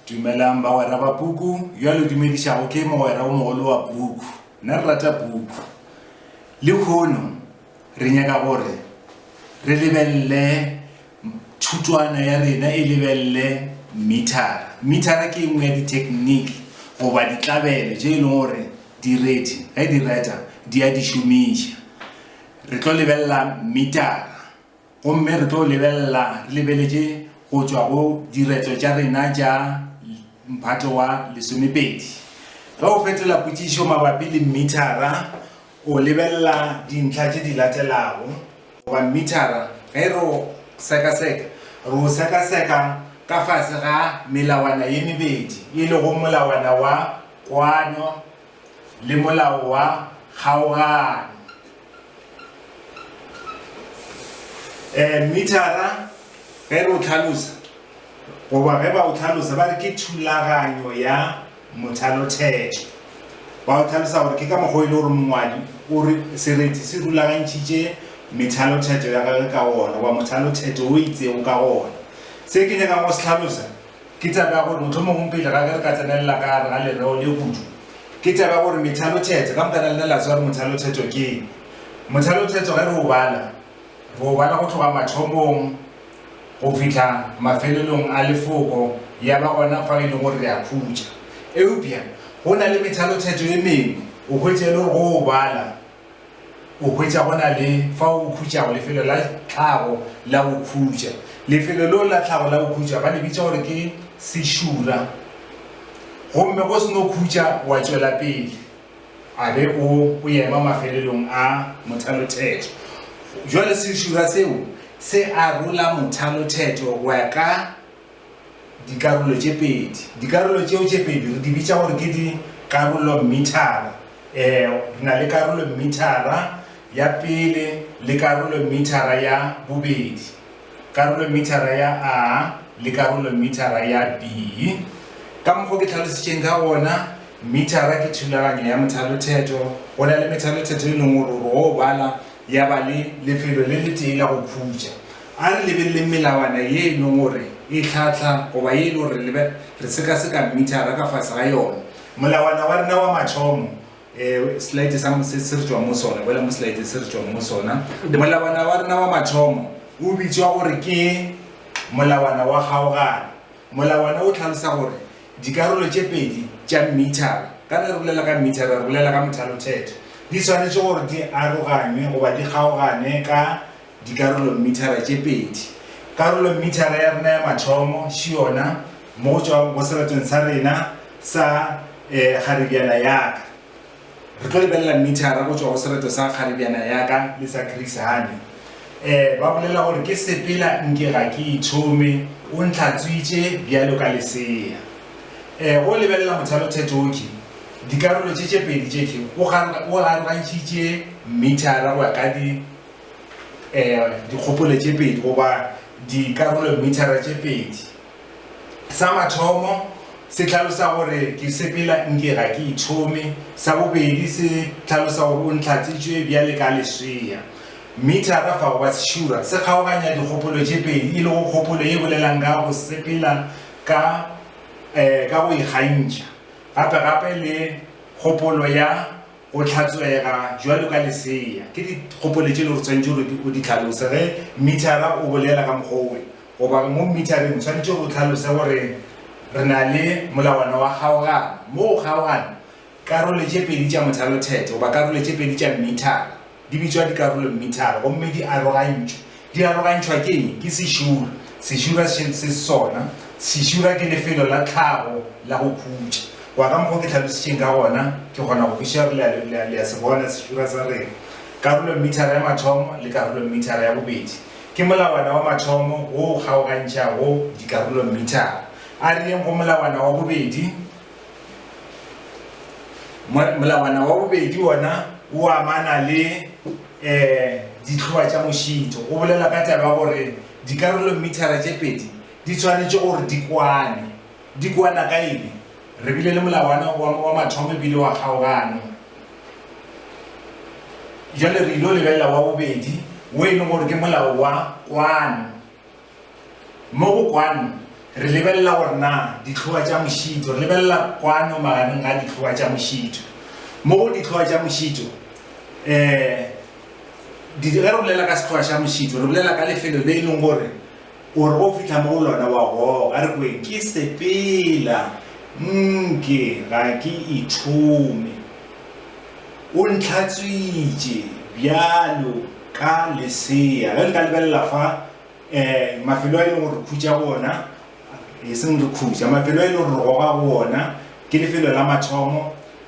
Dumelang bagwera ba puku, yo a le dumedišago ke mogwera o mogolo wa puku. Nna re rata puku. Lekhono, re nyaka gore re lebelele thutwana ya rena e lebelele mithara. Mithara ke engwe ya dithekniki goba ditlabelo tše e leng gore direti ge di reta di a di šomiša. Re tlo lebelela mithara. Gomme re tlo lebelela, re lebeletše go tšwa go diretšo tša rena tša Mphato wa Lesomepedi. Ge o fetola potšišo mabapi le mmithara, o lebelela dintlha tše di latelago, goba mmithara, ge re o sekaseka, re o sekaseka ka fase ga melawana ye mebedi, e lego molawana wa kwano le molao wa kgaoganyo. E, mithara ge re o tlhalosa goba ge ba o tlhalosa ba re ke thulaganyo ya mothalothetšo ba o tlhalosa gore ke ka mokgwa e le gore mongwadi o re sereti se rulagantšhitše methalothetšo ya gage ka ona wa mothalothetšo o itsego ka ona se ke nyakang go se tlhalosa Ke taba ya gore mohlomongwe pele ga ge re ka tsenelela ka gare ga lereo le kudu, ke taba ya gore methalothetso, ka moka na lena la tseba gore mothalothetso ke eng? Mothalothetso ge re o bala, re o bala go tloga mathomong go fihla mafelelong a lefoko, ya ba gona fao e leng gore re a khutša. Eupša go na le methalothetso e mengwe o hwetše e le gore go o bala O hwetša go na le fao o khutšago, lefelo la tlhago la go khutša. Lefelo leo la tlhago la go khutša ba le bitša gore ke sešura. Gomme go se no khutša wa tšwela pele, a be o, o ema mafelelong a mothalothetho. Jwale sešura seo se arola mothalothetho go ya ka. dikarolo tše pedi. Dikarolo tšeo tše pedi re di bitša gore ke dikarolommithara. E, re na le karolommithara ya pele le karolommithara ya bobedi, karolommithara ya A le karolommithara ya B. Ka mokgwa ke tlhalositšeng ka gona, mithara ke thulaganyo ya methalothetho. Go na le methalothetho e leng gore o o bala Ya ba le lefelo le letee la go khutša. A re lebeleleng melawana ye e leng gore e hlahla goba ye e lego gore le re sekaseka mmithara ka fase ga yona. Molawana wa rena wa mathomo, slide sa se se re tšwang mo sona, boela mo slide se re tšwang mo sona. Molawana wa rena wa mathomo o bitšwa gore ke molawana wa kgaogano. Molawana o tlhalosa gore Dikarolo tše pedi tša mmithara, ka ge re bolela ka mmithara re bolela ka mothalothetho, di swanetše gore di aroganywe goba di kgaogane ka dikarolommithara tše pedi. Karolommithara ya rena ya mathomo ši yona mo go tšwago go seretong sa rena sa e, kgaribjana ya ka. Re tlo lebelela mithara go tšwa go sereto sa kgaribjana ya ka le sa Chrishane. Um ba bolela gore ke sepela nke ga ke ithome, o ntlhatswitše bjalo ka lesea. Um go lebelela mothalo thethoki, dikarolo tše tše pedi tše tše o arogantšhitše mithara go ya ka di um dikgopolo tše pedi goba dikarolo mithara tše pedi. Sa mathomo se hlalosa gore ke sepela nke ga ke ithome. Sa bobedi se hlalosa gore o ntlhatsitšwe bjale ka leswea. Mithara fa goba sešura se kgaoganya dikgopolo tše pedi e lego kgopolo ye bolelang ka go sepela ka ka go ikgantšha gape gape le kgopolo ya go hlatswega bjalo ka lesea. Ke dikgopolo tše e lego gore o swanetše gore o di hlalose ge mithara o bolela ka mokgwa wo. Goba mo mmithareng o tshwanetše o tlhalose gore re na le molawana wa kgaogano mo go kgaogana karole tše pedi tša mothalothetho goba karole tše pedi tša mmithara. Di bitšwa dikarolommithara gomme di arogantšwe. Di arogantšhwa ke eng? Ke sešura. Sešura se se sona. Sešura ke lefelo la tlhago la go khutša. Wa ka mokgwa o ke tlhalositšeng ka gona, ke kgona go kwešiša gore le, le, le a se bona sešura sa rena. Karolommithara ya mathomo le karolommithara ya bobedi Ke molawana wa mathomo wo o kgaogantšhago dikarolomithara. A re yeng go molawana wa bobedi. Molawana wa bobedi wona o amana le um dihloa tša mošito. O bolela ka taba ya gore dikarolomithara tše pedi di tshwanetše gore di kwane. Di kwana ka eng? Re bile le molawana wa mathomo e bile wa kgaogano. Bjale re ilo lebelela wa bobedi, wo e lego gore ke molao wa kwano. Mo go kwano re lebelela gore na dihloa tša mošito, re lebelela kwano magareng ga dihloa tša mošito. Mo go dihloa tša mošito, um ge re bolela ka sehloa xa mošito, re bolela ka lefelo le e leng gore O re ge o fihla mo go lona wa goga, re kweng ke sepela nke ga ke ithome. O ntlhatswitše bjalo ka lesea. Ge le ka lebelela fa, um mafelo a e lego gore re khutša go ona, e seng re khutša, mafelo a e lego gore re goga go ona, ke lefelo la mathomo.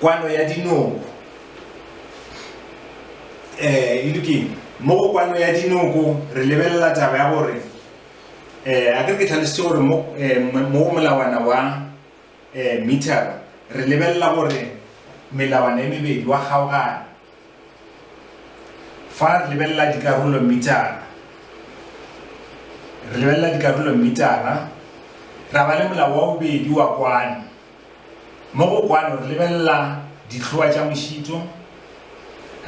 Kwano ya dinoko. Eh, e lokile. Mo go kwano ya dinoko re lebelela taba ya gore eh a ke ke tlhalositse gore mo eh, mo molawana wa eh meter re lebelela gore melawana e mebedi wa kgaogana Fa re lebelela dikarolo mmitara, re lebelela dikarolo mmitara, ra ba le molao wa bobedi wa kwano. Mo go kwano re lebelela dihloa tša mošito,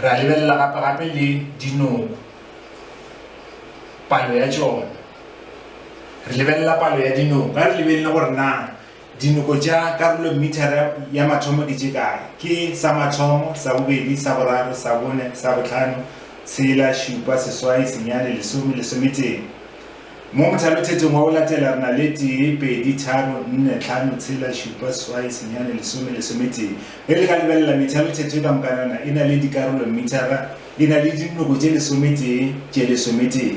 ra lebelela gape-gape le dinoko, palo ya tšona. Re lebelela palo ya dinoko, ga re lebelele gore na Dinoko tša karolomithara ya mathomo di tše kae? Ke, sa mathomo, sa bobedi, sa boraro, sa bone, sa bohlano, tshela, šupa, seswai, senyane, lesome, lesometee. Mo mothalothetong wa go latela re na le tee, pedi, tharo, nne, tlhano, tshela, šupa, seswai, senyane, lesome, lesometee. Ge le ka lebelela, methalothetho e ka mokanana e na le dikarolomithara, e na le dinoko tše lesometee, tše lesometee.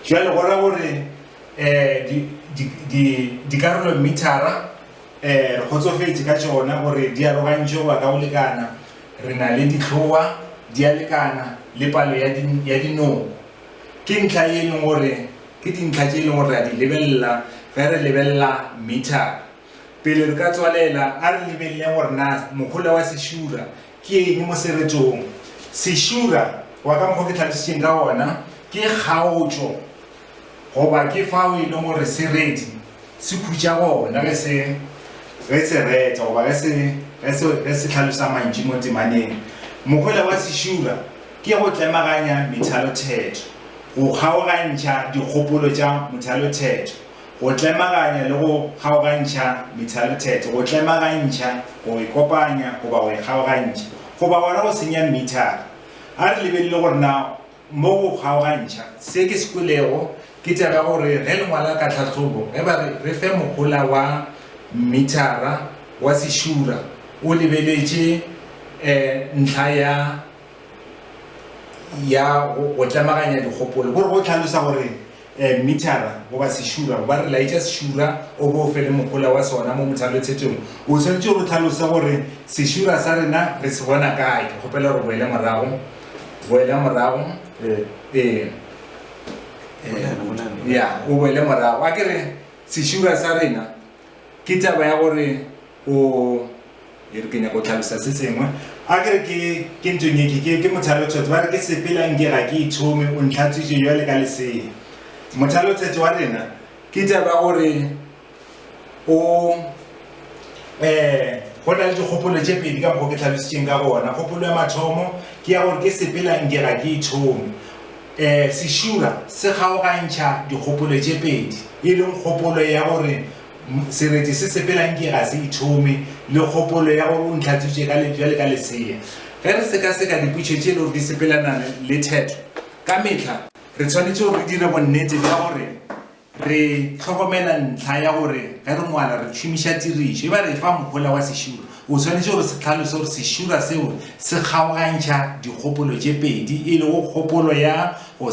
Bjale go ra gore. Dikarolomithara re kgotsofetše ka tšona gore di arogantšwe go ya ka go lekana. Re na le dihlowa di a lekana le palo ya dinoko. Ke ntlha ye e leng gore ke dintlha tše e leng gore re a di lebelela ge re lebelela mithara. Pele re ka tswalela a re lebeleleng gore na mohola wa sešura ke eng mo seretong. Sešura wa ka mokgwa o ke tlhalositšeng ka ona ke kgaotšo. Goba ke fao e lego gore sereti se khutša gona ge se, ge se reta goba ge se, ge se, ge se hlalosa mantšu mo temaneng. Mohola wa sešura ke go tlemaganya methalothetho, go kgaogantšha dikgopolo tša mothalothetho, go tlemaganya le go kgaogantšha methalothetho, go tlemagantšha, go e kopanya goba go e kgaogantšha, goba gona go senya mithara. A re lebelele gore na Mo go kgaogantšha se ke se kwelego, ke tšaba gore ge le ngwala ka tlhahlobo, ge ba re re fe mohola wa mmithara wa sešura, o lebeletše ntlha ya ya go tlemaganya dikgopolo, go re go hlalosa gore. um mithara goba sešura goba re laetša sešura o bo o fe le mohola wa sona mo mothalothetšong o swanetše go tlhalosa gore sešura sa rena re se bona kae ke kgopela gore boele morago boele morago ee ya o boele morago a ke re sešura sa rena Ke taba ya gore o, e re ke nyaka go tlhalosa se sengwe, a ke re ke, ke ntho nye ke, ke, ke mothalotheto, ba re ke sepela nke ga ke ithome, o ntlhatswitše bjale ka lesea. Mothalotheto wa rena ke taba ya gore o, um go na le dikgopolo tše pedi ka mokgwa o ke tlhalositšeng ka gona. Kgopolo ya mathomo ke ya gore ke sepela nke ga ke ithome. Ee, sešura se kgaogantšha dikgopolo tše pedi, e leng kgopolo ya gore sereti se sepela nke ga se ithome le kgopolo ya gore o ntlhatswitše ka lebjale ka lesea. Ge re sekaseka dipotšo tše e le gore di sepelana le thetho ka mehla, re swanetše gore re dire bonnete bja gore Re hlokomela ntlha ya gore ge re ngwala re tšhomiša tirišo. E ba re efa mohola wa sešura, o swanetše gore se hlalose gore sešura seo se kgaogantšha dikgopolo tše pedi, e lego kgopolo ya go